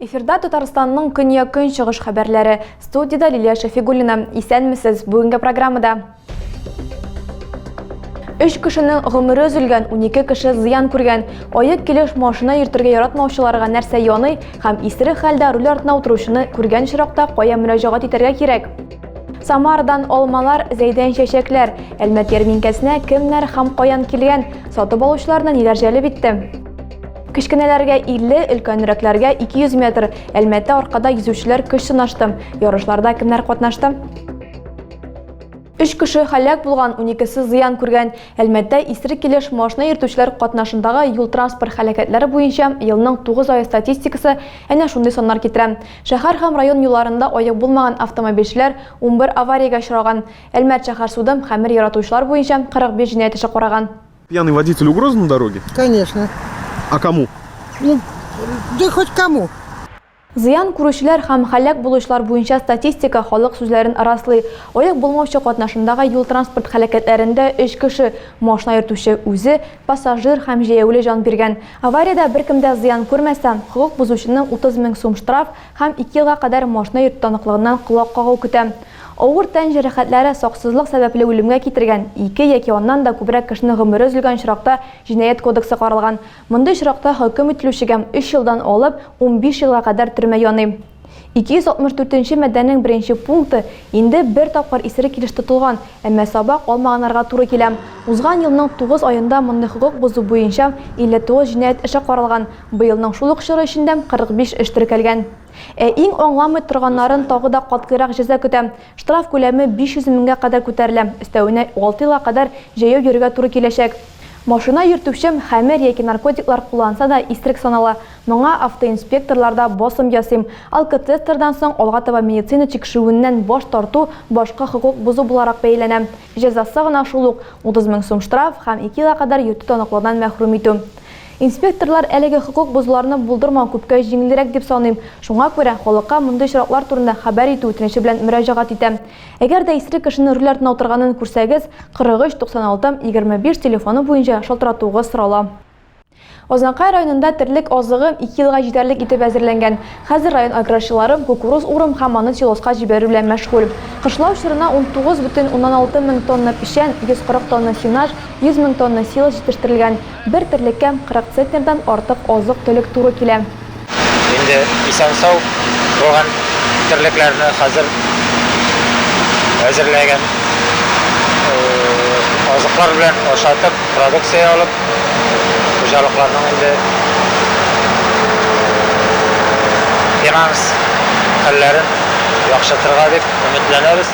Эфирда Татарстанның көньяк-көнчыгыш хәбәрләре. Студияда Лилия Шәфигуллина. Исәнмесез. Бүгенге программада Өч кешенең гомере өзелгән, унике кеше зыян күргән. Аек килеш машина йөртергә яратмаучыларга нәрсә яный һәм исерек хәлдә руль артына утыручыны күргән очракта кая мөрәҗәгать итәргә кирәк? Самардан алмалар, Зәйдән чәчәкләр, Әлмәт ярминкәсенә кемнәр һәм каян килгән, сатып алучыларны ниләр җәлеп итте? Кечкенәләргә 50, өлкәнрәкләргә 200 метр. Әлмәттә аркада йөзүчеләр көч сынашты. Ярышларда кемнәр катнашты? Өч кеше һәлак булган, уникесе зыян күргән. Әлмәттә исерек килеш машина йөртүчеләр катнашындагы юл-транспорт һәлакәтләре буенча елның тугыз ае статистикасы әнә шундый саннар китерә. Шәһәр һәм район юлларында аек булмаган автомобильчеләр унбер авариягә очраган. Әлмәт шәһәр суды хәмер яратучылар буенча 45 җинаять эше караган. Пьяный водитель угроза на дороге? Конечно. А кому? Ну, да хоть кому. Зыян күрүчеләр һәм һәлак булучылар буенча статистика халык сүзләрен раслый. Лаек булмаучы катнашындагы юл-транспорт һәлакәтләрендә өч кеше, машина йөртүче үзе, пассажир һәм җәяүле җан биргән. Авариядә беркем дә зыян күрмәсә, хокук бозучыны 30 мең сум штраф һәм ике елга кадәр машина йөртү таныклыгыннан колак кагу көтә. Авыр тән җәрәхәтләре, саксызлык сәбәпле үлемгә китергән, ике яки аннан да күбрәк кешенең гомере өзелгән очракта Җинаять кодексы каралган, Мондый очракта хөкем ителүчегә өч елдан алып унбиш елга кадәр төрмә яный. 264 нче маддәнең беренче пункты инде бер тапкыр исерек килеш тотылган, әмма сабак алмаганнарга туры килә. Узган елның тугыз аенда мондый хокук бозу буенча 59 җинаять эше каралган, быелның шул ук чоры эчендә 45 эш теркәлгән. Ә иң аңламый торганнарын тагы да катгыйрак җәза көтә, Штраф күләме 500 меңгә кадәр күтәрелә, өстәвенә алты елга кадәр җәяү йөрергә туры киләчәк. Машина йөртүче хәмер яки наркотиклар кулланса да исерек санала, моңа автоинспекторлар да басым ясыйм, алкотестердан соң алга таба медицина тикшерүеннән баш тарту башка хокук бозу буларак бәяләнә. Җәзасы гына шул ук, 30 мең сум штраф һәм ике елга кадәр йөртү таныклыгыннан мәхрүм итү. Инспекторлар әлеге хокук бозуларны булдырмау күпкә җиңелрәк дип саныйм, шуңа күрә халыкка мондый очраклар турында хәбәр итү үтенече белән мөрәҗәгать итәм. Әгәр дә исерек кешене руль артына утырганын күрсәгез, 43 96 25 телефоны буенча шалтыратуыгыз сорала. Азнакай районында терлек азыгы ике елга җитәрлек итеп әзерләнгән. Хәзер район аграрчылары кукуруз урым һәм аны силоска җибәрү белән мәшгуль. Кышлау чорына 19,6 мең тонна печән, 140 тонна сенаж, 100 мең тонна силос җитештерелгән. Бер терлеккә 40 центнердан артык азык-төлек туры килә. Инде исән-сау булган терлекләрне хәзер әзерләгән азыклар белән ашатып, продукция алып, хуҗалыкларның инде финанс хәлләрен яхшыртырга дип өметләнәбез.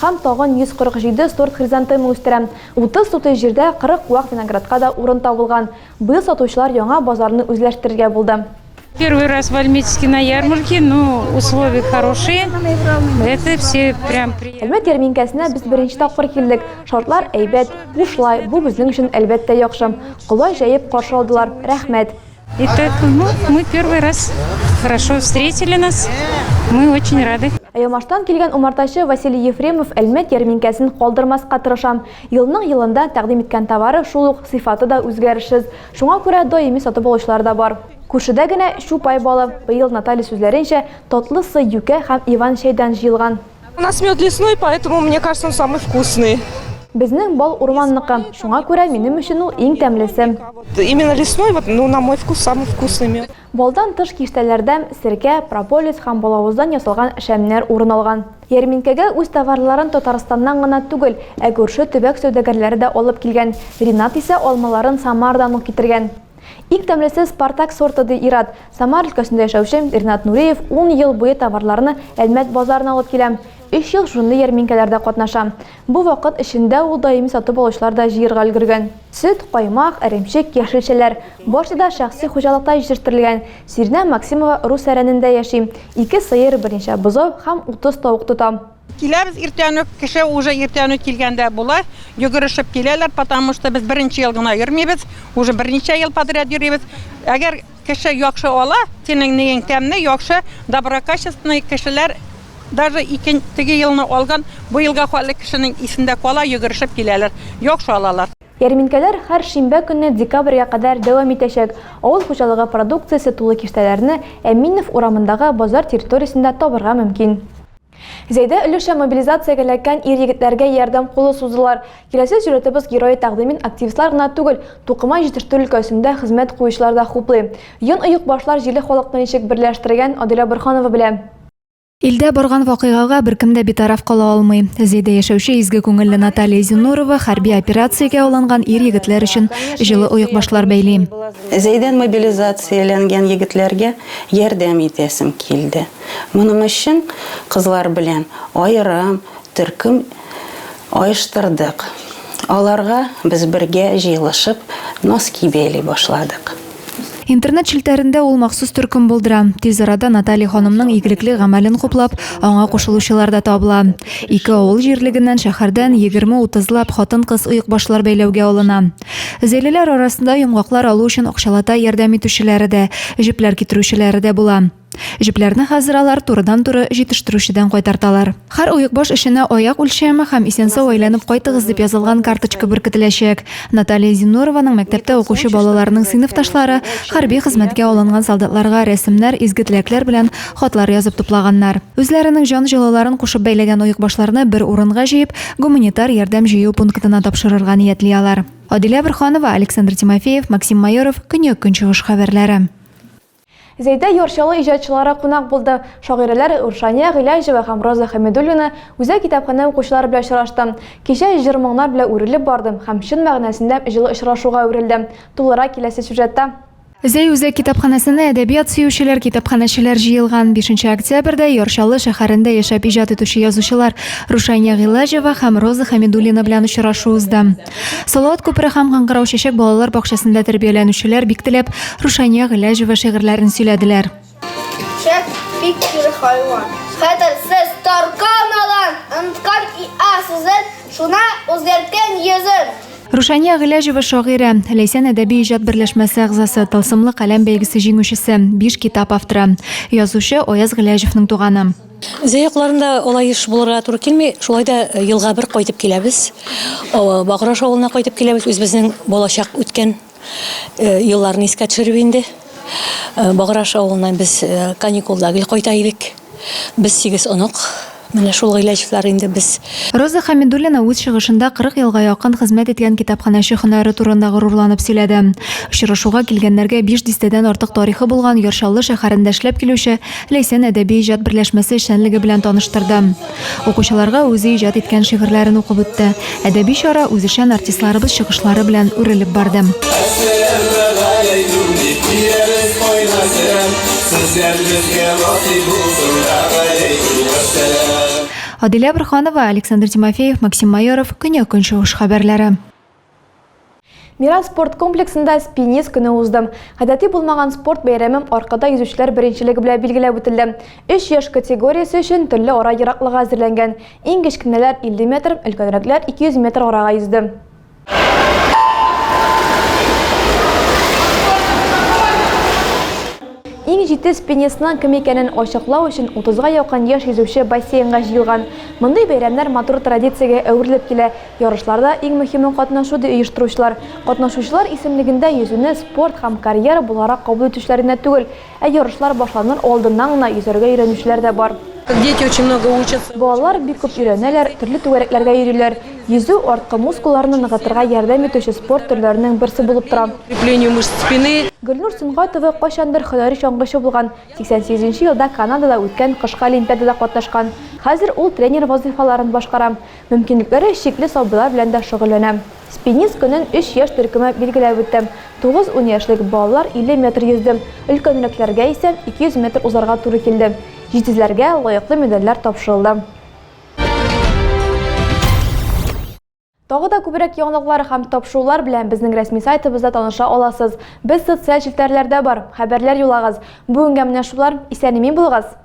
Һәм тагын 147 сорт хризантема үстерәм. Утыз сутый җирдә 40 вак виноградка да урын табылган. Быел сатучылар яңа базарны үзләштерергә булды. Первый раз в Альметьевске на ярмарке, ну, условия хорошие, это все прям приятно. Әлмәт ярминкәсенә без беренче тапкыр килдек. Шартлар әйбәт, бушлай, бу безнең өчен, әлбәттә, яхшы. Колач җәеп каршы алдылар, рәхмәт. Это, ну, мы первый раз хорошо встретили нас. Мы очень рады. Ямаштан килгән умартачы Василий Ефремов Әлмәт ярминкәсен калдырмаска тырышам. Елның елында тәкъдим иткән товары шул ук сыйфаты да үзгәрешсез. Шуңа күрә даими сатып алучылар да бар. Күршедә генә Чупай балы. Быел Наталья сүзләренчә, татлысы юкә һәм Иван чәйдән җыелган. У нас мед лесной, поэтому мне кажется, он самый вкусный. Безнең бал урманныкы, шуңа күрә минем өчен ул иң тәмлесе. Именно лесной, вот, ну, на мой вкус, самый вкусный мед. Балдан тыш киштәләрдә серкә, прополис һәм балавыздан ясалган шәмнәр урын алган. Ярминкәгә үз товарларын Татарстаннан гына түгел, ә күрше төбәк сәүдәгәрләре дә алып килгән. Ринат исә алмаларын Самардан ук китергән. Иң тәмлесе Спартак сорты, ди ир-ат. Самар өлкәсендә яшәүче Ринат Нуриев ун ел буе товарларны Әлмәт базарына алып килә. Өч ел шундый ярминкәләрдә катнаша. Бу вакыт эчендә ул даими сатып алучылар да җыерга өлгергән. Сөт, каймак, эремчек, яшелчәләр, барсы да шәхси хуҗалыкта җитештерелгән. Сиринә Максимова Русәрәнендә яши, ике сыер, берничә бозау һәм утыз тавык тота. Киләбез иртән үк, кеше уже иртән үк килгәндә була, йөгерешеп киләләр, потому что без беренче ел гына йөрмибез, уже берничә ел подряд йөрибез. Әгәр кеше яхшы ала, синең ниең тәмле, яхшы, доброкачественный кешеләр даже икен, теге елны алган, бу елга хәтле кешенең исендә кала, йөгерешеп киләләр, яхшы алалар. Ярминкәләр һәр шимбә көнне декабрьгә кадәр дәвам итәчәк. Авыл хуҗалыгы продукциясе тулы киштәләрне Әминов урамындагы базар территориясендә табырга мөмкин. Зәйдә өлешчә мобилизациягә эләккән ир-егетләргә ярдәм кулы суздылар. Киләсе сюжетыбыз герое тәкъдимен активистлар гына түгел, тукыма җитештерү өлкәсендә хезмәт куючылар да хуплый. Йон оекбашлар җирле халыкны ничек берләштерегән, Адилә Борһанова белә. Илдә барган вакыйгага беркем дә битараф кала алмый. Зәйдә яшәүче изге күңелле Наталья Зиннурова хәрби операциягә алынган ир-егетләр өчен җылы оекбашлар бәйли. Зәйдән мобилизацияләнгән егетләргә ярдәм итәсем килде. Моның өчен кызлар белән аерым төркем оештырдык. Аларга без бергә җыелышып носки бәйли башладык. Интернет челтәрендә ул махсус төркем булдыра. Тиз арада Наталья ханымның игелекле гамәлен хуплап, аңа кушылучылар да табыла. Ике авыл җирлегеннән, шәһәрдән егерме-утызлап хатын-кыз оекбашлар бәйләүгә алына. Зәйлеләр арасында йомгаклар алу өчен акчалата ярдәм итүчеләре дә, җепләр китерүчеләре дә була. Җепләрне хәзер алар турыдан-туры җитештерүчедән кайтарталар. Һәр оекбаш эшенә аяк үлчәеме һәм исән-сау әйләнеп кайтыгыз дип язылган карточка беркетеләчәк. Наталья Зиннурованың мәктәптә укучы балаларының сыйныфташлары хәрби хезмәткә алынган солдатларга рәсемнәр, изге теләкләр белән хатлар язып туплаганнар. Үзләренең җан җылыларын кушып бәйләгән оекбашларны бер урынга җыеп, гуманитар ярдәм җыю пунктына тапшырырга ниятли алар. Адилә Борһанова, Александр Тимофеев, Максим Майоров, Көньяк-Көнчыгыш хәбәрләре. Зәйдә Юрчалы иҗатчылары кунак булды. Шагыйрәләр Рушания Гыйләҗева һәм Роза Хәмидуллина Үзәк китапханә укучылары белән очрашты. Кичә җыр-моңнар белән үрелеп барды һәм чын мәгънәсендә җылы очрашуга әверелде. Тулырак киләсе сюжетта. Зәй үзәк китапханәсенә әдәбият сөючеләр, китапханәчеләр җыелган. Бишенче октябрьдә Яр Чаллы шәһәрендә яшәп иҗат итүче язучылар Рушания Гыйләҗева һәм Роза Хәмидуллина белән очрашу узды. Салават күпере һәм Кыңгырау чәчәк балалар бакчасында тәрбияләнүчеләр бик теләп Рушания Гыйләҗева шигырьләрен сөйләделәр. Чәк бик кире хайван. Хәтерсез таркан алан, Онткан иа сүзен, Шуна үзгәрткән йөзен. Рушания Гыйләҗева шагыйрә, Ләйсән әдәби иҗат берләшмәсе әгъзасы, Тылсымлы каләм бәйгесе җиңүчесе, биш китап авторы. Язучы, Аяз Гыйләҗевның туганы. Зәй якларында алай еш булырга туры килми. Шулай да елга бер кайтып киләбез. Баграш авылына кайтып киләбез. Үзебезнең балачак үткән елларны искә төшереп инде. Баграш авылына без каникулда гел кайта идек. Без сигез онык. Менә шул гыйләҗләр инде без. Роза Хәмидуллина үз чыгышында 40 елга якын хезмәт иткән китапханәче һөнәре турында горурланып сөйләде. Очрашуга килгәннәргә биш дистәдән артык тарихы булган Яр Чаллы шәһәрендә эшләп килүче Ләйсән әдәби иҗат берләшмәсе эшчәнлеге белән таныштырды. Укучыларга үзе иҗат иткән шигырьләрен укып үтте. Әдәби чара үзешән артистларыбыз чыгышлары белән үрелеп барды. Әсәрләрне гаилә юни киярез кайда сәлам Сүзләр безгә насыйп булсын Гаиләйкүм вәссәлам. Адилә Борһанова, Александр Тимофеев, Максим Майоров, Көньяк-Көнчыгыш хәбәрләре. Мирас спорт комплексында Спинис көне узды. Гадәти булмаган спорт бәйрәме Аркада йөзүчеләр беренчелеге белән билгеләп үтелде. Өч яшь категориясе өчен төрле ара ераклыгы әзерләнгән. Иң кечкенәләр 50 метр, өлкәнрәкләр 200 метр арага йөзде. Иң җитез спинисның кем икәнен ачыклау өчен утызга якын яшь йөзүче бассейнга җыелган. Мондый бәйрәмнәр матур традициягә әверелеп килә. Ярышларда иң мөһиме катнашу, ди оештыручылар. Катнашучылар исемлегендә йөзүне спорт һәм карьера буларак кабул итүчеләр генә түгел, ә ярышлар башланыр алдыннан гына йөзәргә өйрәнүчеләр дә бар. Балалар бик күп өйрәнәләр, төрле түгәрәкләргә йөриләр. Йөзү, арткы мускулларны ныгытырга ярдәм итүче спорт төрләренең берсе булып тора. Гөлнур Сөнгатова кайчандыр һөнәри чаңгычы булган, 88 нче елда Канадада үткән кышкы олимпиадада катнашкан. Хәзер ул тренер вазыйфаларын башкара. Мөмкинлекләре чикле сабыйлар белән дә шөгыльләнә. Спинис көнен өч яшь төркеме билгеләп үтте. Тугыз-ун яшьлек балалар 50 метр йөзде, өлкәнрәкләргә исә 200 метр узарга туры килде. Җитезләргә лаеклы медальләр тапшырылды. Тагы да күбрәк яңалыклар һәм тапшырулар белән безнең рәсми сайтыбызда таныша аласыз. Без социаль челтәрләрдә бар. Хәбәрләр юллагыз. Бүгенгә менә шулар. Исән-имин булыгыз!